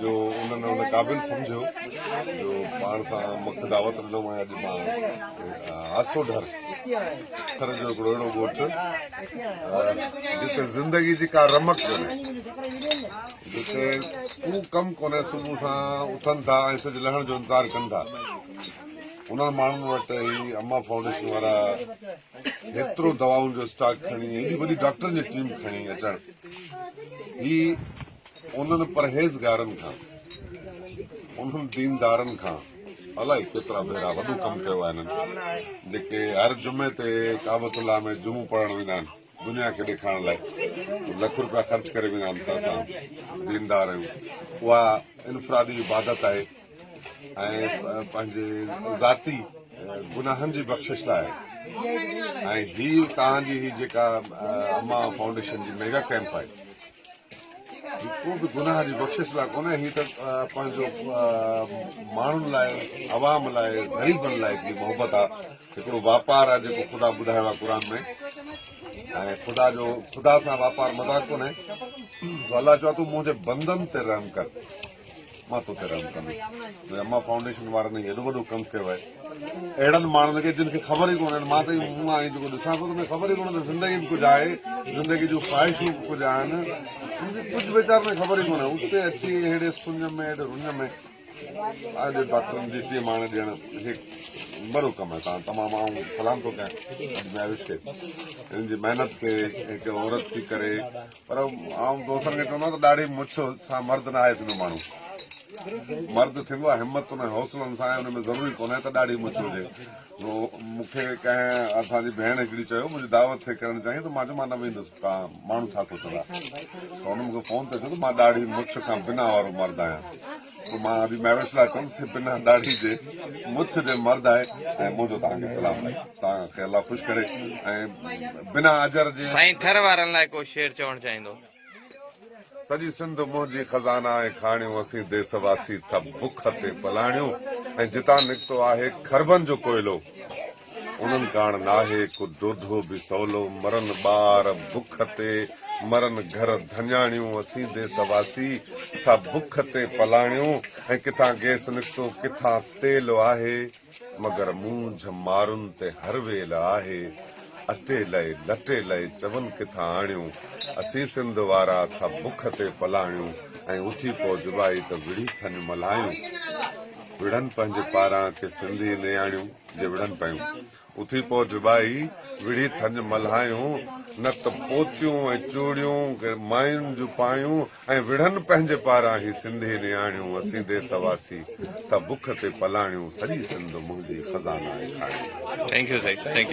جو انهن ان قابل سمجهيو جو پاڻ سان مک دعوت ڏنم ۽ اڄ مان آسوڍر اکر جو هڪڙو اهڙو ڳوٺ جتي زندگي جي ڪا رمق ڪونهي جتي ڪو ڪم ڪونهي صبح سان اٿن ٿا ۽ سج لهڻ جو انتظار ڪن ٿا انهن ماڻهن وٽ هي اما فائونڊيشن وارا هيترو دواؤن جو اسٽاڪ کڻي هيڏي وڏي ڊاڪٽرن جي ٽيم کڻي اچڻ هي انهن پرهيزگارن کان انهن ديندارن کان الائي ڪيترا ڀيرا وڏو ڪم ڪيو آهي هنن جيڪي هر جمعي تي ڪعبت الله ۾ جمعو پڙهڻ ويندا آهن دنيا کي ڏيکارڻ لاء لک روپيا خرچ ڪري ويندا آهن ته اسان ديندار آهيون اها انفرادي عبادت آهي ۽ پنهنجي ذاتي گناهن جي بخشش لاء ۽ هي تهان جي هي جيڪا اما فائونڊيشن جي ميگا ڪيمپ آهي هي ڪو به گناهه جي بخشش لاء ڪونهي، هي ته پنهنجو ماڻهن لاء، عوام لاء، غريبن لاء هڪڙي محبت آ، هڪڙو واپار آ جيڪو خدا ٻڌايو آ قرآن ۾ ۽ خدا جو خدا سان واپار مذاق ڪونهي، سو الله چوي ٿو منهنجي بندن تي رحم ڪر. مان توکي رحم ڪندس منهنجي اما فائونڊيشن وارن هي ايڏو وڏو ڪم ڪيو آهي اهڙن ماڻهن کي جن کي خبر ئي ڪونهن مان ته مون آئين جيڪو ڏسان ٿو ته مون خبر ئي ڪونهن ته زندگي به ڪجهه آهي زندگي جون خواهشون به ڪجهه آهن ان جي ڪجهه ويچارن کي خبر ئي ڪونهي اتي اچي اهڙي سڃ ۾ اهڙي رڃ ۾ اڄ ڊاڪٽرن جي ٽيم آڻي ڏيڻ هي وڏو ڪم آهي تان تمام آئون سلام ٿو ڪيان اڄ مياوش کي هن جي محنت کي هڪ عورت ٿي ڪري پر آئون دوستن کي چوندو آهيان ته ڏاڙهي مڇ سان مرد ناهي ٿيندو ماڻهو مرد ٿيندو آهي همتن ۽ حوصلن سان ۽ ان ۾ ضروري ڪونهي ته ڏاڙهي مڇ هجي مون کي ڪنهن اسان جي ڀيڻ هڪڙي چيو منهنجي دعوت ٿي ڪرڻ چاهين ته مان چيو مان نه ويندس توهان ماڻهو ڇا سوچندا ته هن مون کي فون تي چيو ته مان ڏاڙهي مڇ کان بنا وارو مرد آهيان مان حاجي مهوش لاء چوندس ته بنهه ڏاڙهي جي مڇ جي مرد آهي ۽ منهنجو توهان کي سلام آهي توهان کي الله خوش ڪري ۽ بنا اجر جي سائين ٿر وارن لاء ڪو شعر چوڻ چاهيندو. سڄي سنڌ منهنجي خزانا ۽ کاڻيون اسين ديس واسي ٿا بک تي پلاڻيون ۽ جتان نڪتو آهي کربن جو ڪوئلو. انهن ڪاڻ ناهي ڪو ڊوڌو به سولو، مرن ٻار بک تي، مرن گهر ڌڃاڻيون، اسين ديس واسي ڪٿا بک تي پلاڻيون ۽ ڪٿان گيس نڪتو ڪٿان تيل آهي، مگر مونجهه مارن تي هر ويل آهي، اٽي لئي لٽي لئي چون ڪٿان آڻيون، اسين سنڌ وارا ٿا بک تي پلاڻيون ۽ اٿي پئو جبائي ته وڙهي ٿڃ ملهايون، وڙهن پنهنجي پاران ڪي سنڌي نياڻيون. جي وڙهن پيون. اٿي پوء جبائي وڙهي ٿڃ ملهايون، نت پوتيون ۽ چوڙيون ماين جون پايون ۽ وڙهن پنهنجي پاران هي سنڌي نياڻيون اسين ديس واسي ته بک تي پلاڻيون سڄي سنڌ منهنجي خزانه آهي کاڻيون.